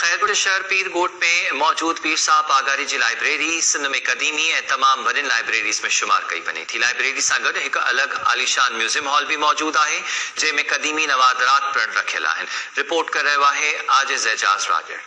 خيرپور شهر پير ڳوٺ ۾ موجود پير صاحب پاڳاري جي لائبريري سنڌ ۾ قديمي ۽ تمام وڏين لائبريريز ۾ شمار ڪئي وڃي ٿي. لائبريري سان گڏ هڪ الڳ عاليشان ميوزيم هال به موجود آهي، جنهن ۾ قديمي نوادرات پڻ رکيل آهن. رپورٽ ڪري رهيو آهي عاجز اعجاز راڄڙ.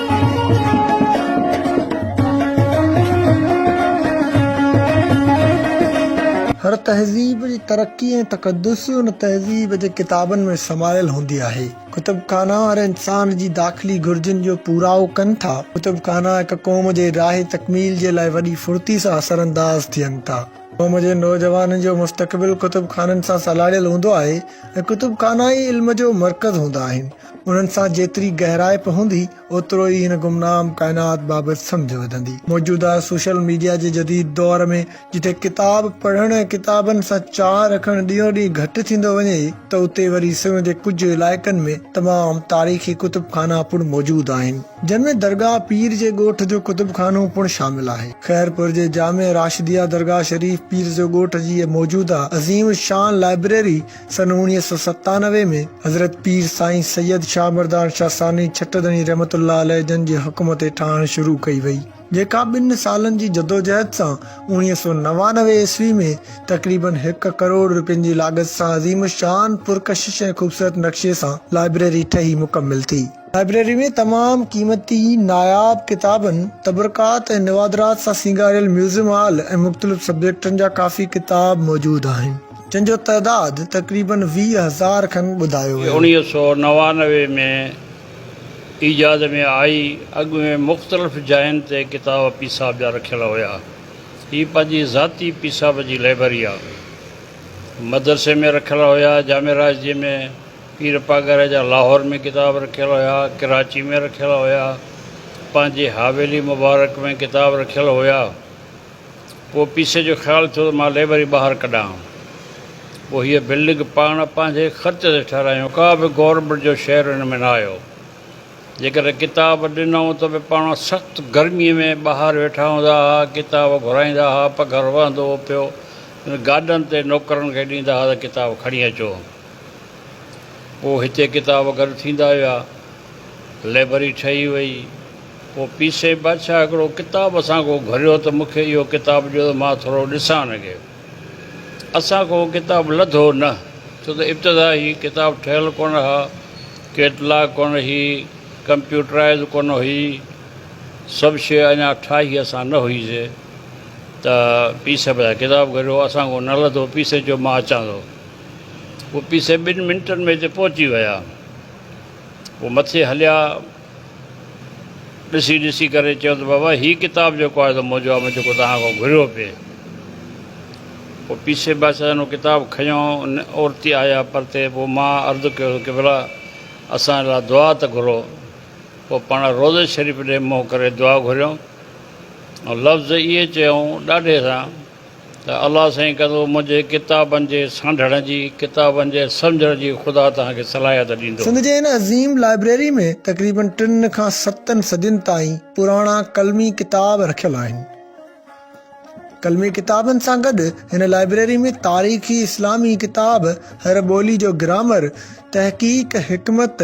هر تهذيب جي ترقي ۽ تقدس ان تهذيب جي ڪتابن ۾ سمايل هوندي آهي. ڪتب خانا هر انسان جي داخلي گهرجن جو پورائو ڪن ٿا. ڪتب خانا هڪ قوم جي راهي تڪميل جي لاء وڏي ڦڙتي سان اثرانداز ٿين ٿا. قوم جي نوجوانن جو مستقبل ڪتب خانن سان سلهاڙيل هوندو آهي ۽ ڪتب خانا ئي علم جو مرڪز هوندا آهن. انهن سان جيتري گهرائپ هوندي، اوترو ئي هن گمنام ڪائنات بابت سمجهه وڌندي. موجوده سوشل ميڊيا جي جديد دور ۾، جتي ڪتاب پڙهڻ ۽ ڪتابن سان چاهه رکڻ ڏينهون ڏينهن گهٽ ٿيندو وڃي، ته اتي وري سنڌ جي ڪجهه علائقن ۾ تمام تاريخي ڪتب خانا پڻ موجود آهن، جن ۾ درگاهه پير جي ڳوٺ جو ڪتب خانو پڻ شامل آهي. خيرپور جي جامع راشديه درگاهه شريف پير جو ڳوٺ جي موجوده عظيم الشان لائبريري، سن اوڻيهه سؤ ستانوي ۾ حضرت پير سائين سيد شاهه مردان شاهه ثاني ڇٽ ڌڻي رحمت الله عليه جن جي حڪم تي ٺاهڻ شروع ڪئي وئي، جيڪا ٻن سالن جي جدوجهد سان اوڻيهه سؤ نوانوي عيسوي ۾ تقريبن هڪ ڪروڙ روپين جي لاڳت سان عظيم الشان پرڪشش ۽ خوبصورت نقشي سان لائبريري ٺهي مڪمل ٿي. لائبريري ۾ تمام قيمتي ناياب ڪتابن، تبرڪات ۽ نوادرات سان سينگاريل ميوزم هال ۽ مختلف سبجيڪٽن جا ڪافي ڪتاب موجود آهن، جن جو تعداد تقريباً ويهه هزار کن ٻڌايو ويو. اڻيهه سؤ نوانوي ۾ ايجاد ۾ آئي. اڳ ۾ مختلف جاين تي ڪتاب پيساب جا رکيل هيا. هي پنهنجي ذاتي پيساب جي لئبرري آ. مدرسي ۾ رکيل هيا، جامع راشديء ۾. پير پاڳاري جا لاهور ۾ ڪتاب رکيل هيا، ڪراچي ۾ رکيل هيا، پنهنجي حاويلي مبارڪ ۾ ڪتاب رکيل هيا. پوء پيسي جو خيال ٿيو ته مان ليبر ئي ٻاهر ڪڍان. پوء هيء بلڊنگ پاڻ پنهنجي خرچ تي ٺهرايائون. ڪا به گورنمينٽ جو شيئر هن ۾ نه آيو. جيڪڏهن ڪتاب ڏنائون ته به پاڻ سخت گرميء ۾ ٻاهر ويٺا هوندا ها، ڪتاب گهرائيندا ها، پگهر وهندو هو پيو. گاڏن تي نوڪرن کي ڏيندا ها ته ڪتاب کڻي اچو. پوء هتي ڪتاب گڏ ٿيندا ويا. لئبرري ٺهي وئي. پوء پيسي بادشاهه هڪڙو ڪتاب اسان کان گهريو ته مون کي اهو ڪتاب ڏيو ته مان ٿورو ڏسان اڳي. اسان کان اهو ڪتاب لڌو نه، ڇو ته ابتدا هي ڪتاب ٺهيل ڪونه ها، ڪيٽلاگ ڪونه هئي، ڪمپيوٽرائيز ڪونه هئي، سڀ شيء اڃا ٺاهي اسان نه هئيسي ته پيسي بادشاهه ڪتاب گهريو، اسان کان نه لڌو، پيسي چيو مان اچان ٿو. او پي سي ٻن منٽن ۾ اتي پهچي ويا. هو مٿي هليا. ڏسي ڏسي ڪري چيو ته بابا هي ڪتاب جيڪو آهي سو منهنجو آهي مون جيڪو توهان کان گهريو پئي. او پي سي بادشاهن هو ڪتاب کنيو ان اورتي آيا پرتي پوء مان عرض ڪيو ته قبلا اسان لاء دعا ته گهرو. پوء پاڻ روضي شريف ڏي منهن ڪري دعا گهريون ۽ لفظ اهي چيائون ڏاڍي سان. ته الله سائين ڪندو منهنجي ڪتابن جي سانڍڻ جي، ڪتابن جي سمجهڻ جي خدا توهان کي صلاحيت ڏيندو. سنڌ جي هن عظيم لائبريري ۾ تقريباً ٽن کان ستن صدين تائين پراڻا قلمي ڪتاب رکيل آهن. قلمي ڪتابن سان گڏ هن لائبريري ۾ تاريخي اسلامي ڪتاب، هر ٻولي جو گرامر، تحقيق، حڪمت،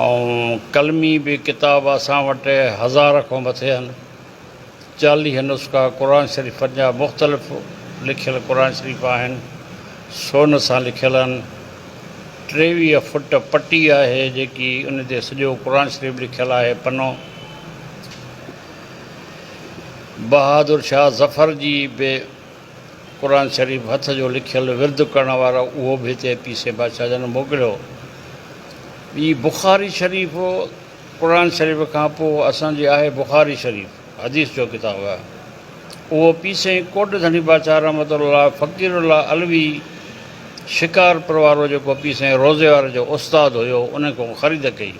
۽ قلمي به ڪتاب اسان وٽ هزار کان مٿي آهن. چاليهه نسخا قرآن شريفن جا مختلف لکيل قرآن شريف آهن. سون سان لکيل آهن. ٽيويهه فٽ پٽي آهي جيڪي ان تي سڄو قرآن شريف لکيل آهي. پنو بهادر شاهه ظفر جي به قرآن شريف هٿ جو لکيل ورد ڪرڻ وارو اهو به هتي پيسي بادشاهه جن موڪليو. ٻي بخاري شريف قرآن شريف کان پوء اسان جي آهي بخاري شريف حديث جو ڪتاب آهي اهو پيسي ڪوٽ ڌڻي بادشاهه رحمة الله فقير الله علوي شڪارپور وارو جيڪو پيسي روضي واري جو استاد هيو ان کان خريد ڪئي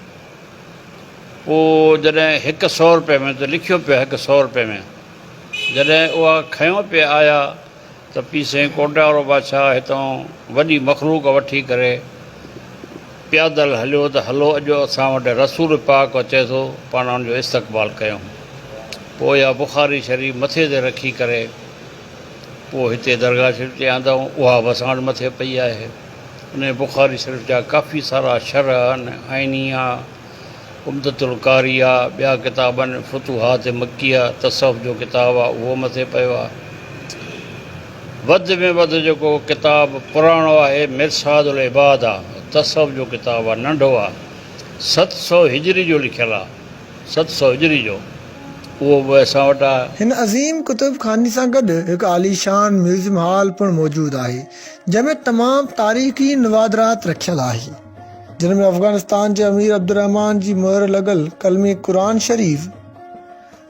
پوء جڏهن هڪ سؤ روپئي ۾ ته لکيو پيو هڪ سؤ روپئي ۾. جڏهن اها کنيو پئي آيا ته پي سين ڪوٽيارو بادشاهه هتان وڏي مخلوق وٺي ڪري پيادل هليو ته هلو اڄ اسان وٽ رسول پاڪ اچي ٿو پاڻ ان جو استقبال ڪيون پوء اها بخاري شريف مٿي تي رکي ڪري پوء هتي درگاهه شريف تي آندائون اها به اسان وٽ مٿي پئي آهي انهي بخاري شريف جا ڪافي سارا شرح آهن آئيني آهن عمدة القاري آ، ٻيا ڪتاب آهن، فتوحات مڪيه تصوف جو ڪتاب آ اهو مٿي پيو آ. وڌ ۾ وڌ جيڪو ڪتاب پراڻو آهي مرصاد العباد آ، تصوف جو ڪتاب آ، ننڍو آ، ست سؤ هجري جو لکيل آ، ست سؤ هجري جو، اهو به اسان وٽ آ. هن عظيم ڪتب خاني سان گڏ هڪ عاليشان ميوزيم هال پڻ موجود آهي، جنهن ۾ تمام تاريخي نوادرات رکيل آهي. جن ۾ افغانستان جي امير عبدالرحمان جي مهر لڳل ڪلمي قرآن شريف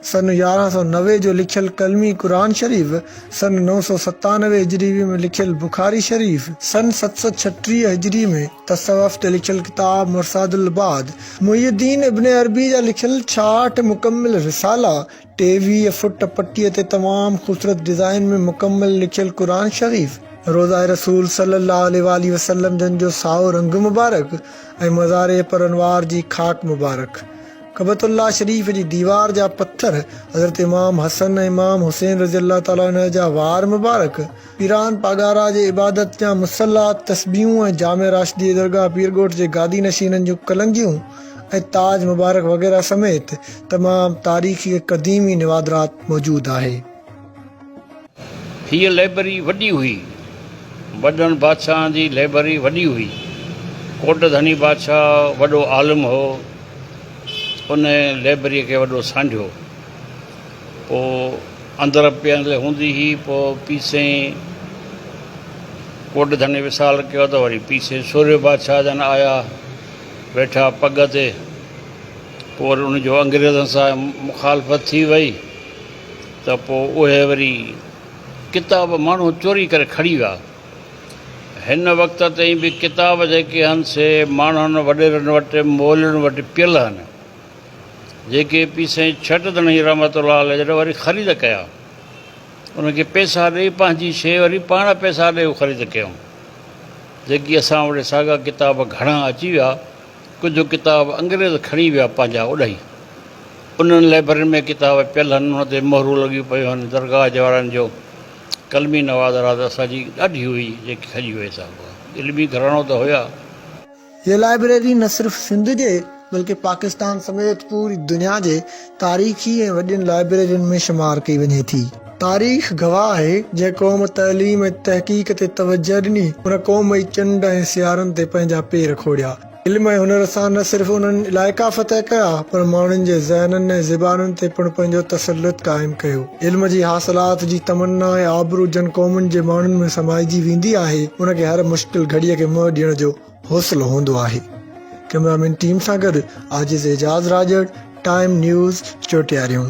سن يارهن سؤ نوي جو لکيل ڪلمي قرآن شريف، سن نو سؤ ستانوي هجري ۾ لکيل بخاري شريف، سن ست سؤ ڇٽيهه هجري ۾ تصوف تي لکيل ڪتاب مرصاد العباد، محي الدين ابن عربي جا لکيل ڇاهٺ مڪمل رسالا، ٽي ويهه فٽ پٽيء تي تمام خوبصورت ڊزائين ۾ مڪمل لکيل قرآن شريف، روضه رسول صلّي اللّٰه عليه واٰله وسلّم جن جو سائو رنگ مبارڪ ۽ مزار پرانوار جي خاڪ مبارڪ. ڪعبة اللّٰه شريف جي ديوار جا پٿر، حضرت امام حسن ۽ امام حسين رضي اللّٰه تعالٰي عنه جا وار مبارڪ، پيران پاڳارا جي عبادت جا مصلا، تسبيحون ۽ جامع راشديء درگاهه پيرڳوٺ جي گادي نشينن جون ڪلنگيون ۽ تاج مبارڪ وغيره سميت تمام تاريخي ۽ قديمي نوادرات موجود آهي. هيء لئبرري وڏي هئي. وڏن بادشاهن جي لئبرري وڏي هئي. ڪوٽ ڌڻي بادشاهه وڏو عالم هو. ان لئبرريء کي وڏو سانڍيو. پوء اندر پيهندل هوندي هئي. پوء پيسئين ڪوٽ ڌڻي وصال ڪيو ته وري پيسئين سورهيه بادشاهه جن آيا ويٺا پڳ تي. پوء وري ان جو انگريزن سان مخالفت ٿي وئي ته پوء اهي وري ڪتاب ماڻهو چوري ڪري کڻي ويا. هن وقت تائين به ڪتاب جيڪي هن سي ماڻهن وڏيرن وٽ مولين وٽ پيل هن. جيڪي پير سائين ڇٽ ڌڻي رحمت الله عليه جڏهن وري خريد ڪيا انهن کي پئسا ڏئي پنهنجي شيء وري پاڻ پئسا ڏئي خريد ڪيائون جيڪي اسان وٽ ساڳا ڪتاب گهڻا اچي ويا ڪجهه ڪتاب انگريز کڻي ويا پنهنجا اڏائي انهن لئبرين ۾ ڪتاب پيل هن انهن تي مهرون لڳيون پيون هن درگاهه جي وارن جو قلمي نوادرات اسان جي ڏاڍي هئي جيڪي کڄي وئي سا هئا علمي گهراڻو ته هيا. هيء لائبريري نه صرف سنڌ جي بلڪه پاڪستان سميت پوري دنيا جي تاريخي ۽ وڏين لائبريرين ۾ شمار ڪئي وڃي ٿي. تاريخ گواهه آهي، جنهن قوم تعليم ۽ تحقيق تي توجهه ڏني، ان قوم ئي چنڊ ۽ سيارن تي پنهنجا پير کوڙيا. علم ۽ هنر سان نه صرف انهن علائقا فتح ڪيا، پر ماڻهن جي ذهنن ۽ زبانن تي پڻ پنهنجو تسلط قائم ڪيو. علم جي حاصلات جي تمنا ۽ آبرو جن قومن جي ماڻهن ۾ سمائجي ويندي آهي، ان کي هر مشڪل گهڙيء کي منهن ڏيڻ جو حوصلو هوندو آهي. ڪئميرا مين ٽيم سان گڏ عاجز اعجاز راڄڙ، ٽائيم نيوز، چوٽياريون.